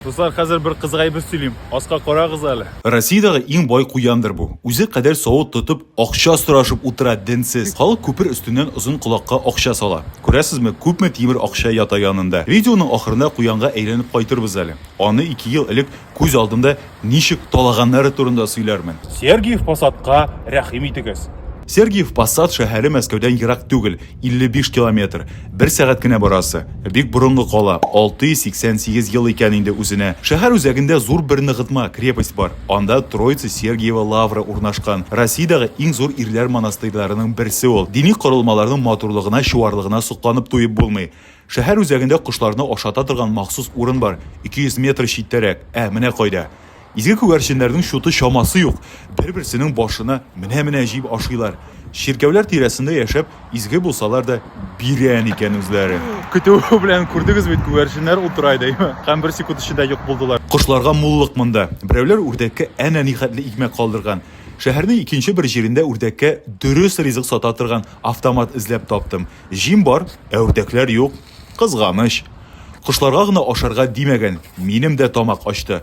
Дуслар, хәзер бер кызык әйбер сөйлим. Аска карагыз әле. Россиядәге иң бай куяндыр бу. Үзе кадәр савыт тотып, акча сорашып утыра, денсез. Халык күпер өстеннән озын колакка акча сала. Күрәсезме, күпме тимер акча ята янында. Видеоның ахырында куянга әйләнеп кайтырбыз әле. Аны ике ел элек күз алдымда ничек талаганнары турында сөйләрмен. Сергиев Посадка рәхим итегез. Сергиев Посад шәһәре Мәскәүдән ерак түгел. 55 километр, бер сәгать кенә барасы. Бик борынгы кала, 688 ел икән инде үзенә. Шәһәр үзәгендә зур бер ныгытма, крепость бар. Анда Троице-Сергиево лавры урнашкан. Россиядәге иң зур ирләр монастырьларының берсе ул. Дини корылмаларның матурлыгына, чуарлыгына сокланып туеп булмый. Шәһәр үзәгендә кошларны ашата торган махсус урын бар, 200 метр читтәрәк. Ә, менә кайда. Изге күгәрченнәрнең чуты чамасы юк, бер-берсенең башына менә-менә җиеп ашыйлар. Чиркәүләр тирәсендә яшәп, изге булсалар да, бирән икән үзләре. Көтү белән күрдегез бит, күгәрченнәр утыра иде, әйеме? Һәм бер секунд эчендә юк булдылар. Кошларга муллык монда. Берәүләр үрдәккә әнә нихәтле икмәк калдырган. Шәһәрнең икенче бер җирендә үрдәккә дөрес ризык сата торган автомат эзләп таптым. Җим бар, ә үрдәкләр юк. Кызганыч. Кошларга гына ашарга димәгән, минем дә тамак ачты.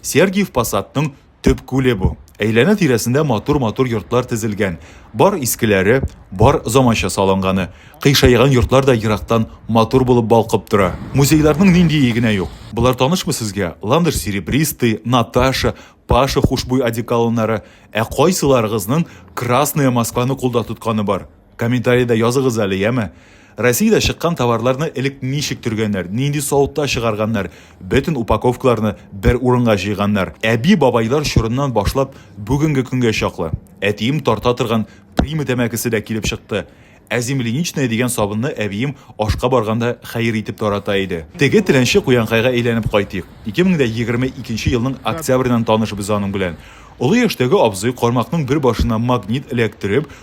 Сергиев Посадның төп күле бу. Әйләнә-тирәсендә матур-матур йортлар тезелгән. Бар искеләре, бар заманча салынганы. Кыйшайган йортлар да ерактан матур булып балкып тора. Музейларның ниндие генә юк. Болар танышмы сезгә? Ландыш серебристый, Наташа, Паша хушбуй одеколоннары. Ә кайсыларыгызның Красная Москваны кулда тотканы бар? Комментарида языгыз әле, яме? Россиядә чыккан товарларны элек ничек төргәннәр, нинди савытта чыгарганнар, бөтен упаковкаларны бер урынга җыйганнар. Әби-бабайлар чорыннан башлап бүгенге көнгә чаклы. Әтием тарта торган Прима тәмәкесе дә килеп чыкты. Ә земляничная дигән сабынны әбием ашка барганда хәер итеп тарата иде. Теге теләнче куянкайга әйләнеп кайтыйк. 2022 елның октябреннән таныш без аның белән. Олы яшьтәге абзый кармакның бер башына магнит эләктереп,